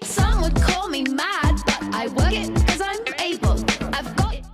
Some would call me mad, but I work it cause I'm able. I've got it.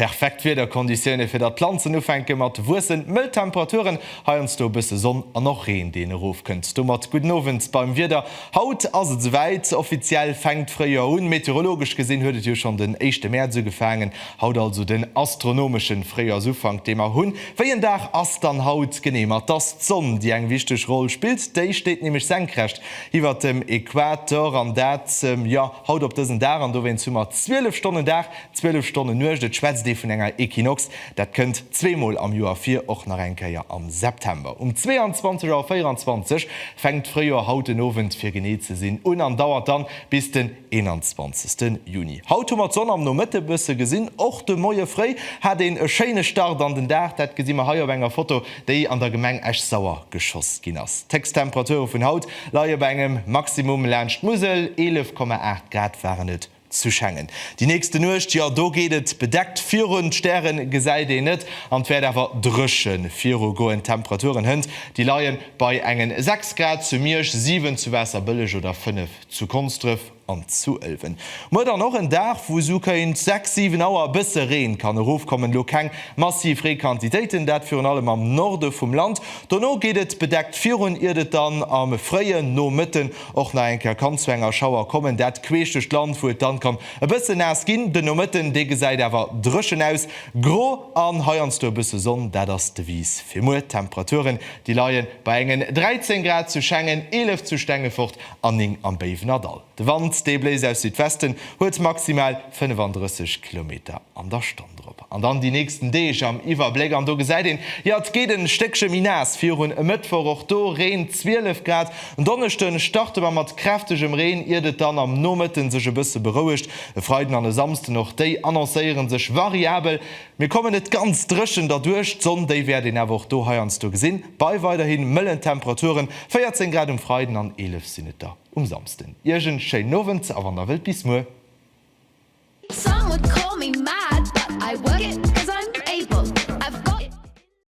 Perfekt Wiederkonditioune fir datt d'Planzen ufänke mat wuessen, mëll Temperaturen, heiansdo e bësse Sonn an och Reen deen erofkënnt. Domat gudden Owend beim Wieder. Haut ass et esouwäit, offiziell fänkt d'Fréijoer un. Meteorologesch gesinn huet et jo schonn den éischte Mäerz ugefaangen Haut also den astronomeschen Fréijoersufank dee mer hunn. Wéi en Dag ass dann haut genee? Ma 't ass d'Sonn déi eng wichteg Roll spillt, déi steet nämlech senkrecht iwwert dem Equator an dat jo haut op dësen Dag an dowéinst hu mer 12 Stonnen Dag, 12 Stonnen Nuecht. Et schwätzt ee vun enger Equinox, dat kënnt zwee mol am Joer vir, och nach eng Kéier am September. Um 22 Auer 24 fänkt d'Fréijoer haut den Owend fir genee ze sinn un an dauert dann bis den. 21 Juni. Haut hu mer d'Sonn am Nomëtte bësse gesinn. Och de Moie fréi hat een e schéine Start an den Dag. Dat gesi mer hei op enger Foto, déi an der Gemeng Esch-Sauer geschoss ginn ass. D'Héchsttemperature vun haut leie bei engem Maximum laanscht d'Musel, 11,8 Grad waren et zu Schengen. Déi nächste Nuecht, jo do geet et bedeckt virun, d'Stäre gesäit een net an et wäert awer dréche viru goen. D'Temperaturen hënt déi leie bei engen 6 Grad zu Miersch, 7 zu Waasserbëlleg oder 5 Zu Konsdrëf an zu Ëlwen. Muer dann och en Dag wou sou kéint 6, 7 Auer e bësse Reen kann erofkommen. Elo keng massiv Reequantitéiten, dat virun allem am Norde vum Land. Dono geet et bedeckt virun, iert et dann am fréien Nomëtten och nach eng Kéier kann zu enger Schauer kommen. Dat queesch duerch d'Land, wou et dann kann e bësse naass ginn. Den Nomëtten, dee gesäit awer dréchen aus, gro an heiansdo e bësse Sonn. Dat ass d'Devise fir muer. D'Temperaturen, déi leie bei engen 13 Grad zu Schengen, 11 zu Stengefort Anning am Béiwenerdall. De Wand, dee bléist aus Südwesten, huet maximal 35 Kilometer an der Stonn drop. An dann déi nächsten Deeg am Iwwerbléck, an do gesäit een, jo, et gétt e Stéckche méi naass. Virun e Mëttwoch och do Reen, 12 Grad. En Donneschde starte mer mat kräftegem Reen, iert et dann am Nomëtte sech e bësse berouegt. E Freiden an e Samsden, och déi annoncéiere sech variabel. Mir kommen net ganz dréchen derduerch, d'Sonn, déi wäert een awer och do heiansdo gesinn, bei weiderhi mëllen Temperaturen, 14 Grad um Freiden an 11 sinn et der um Samsden. Iech en schéinen Owend a wann der wëllt, bis muer.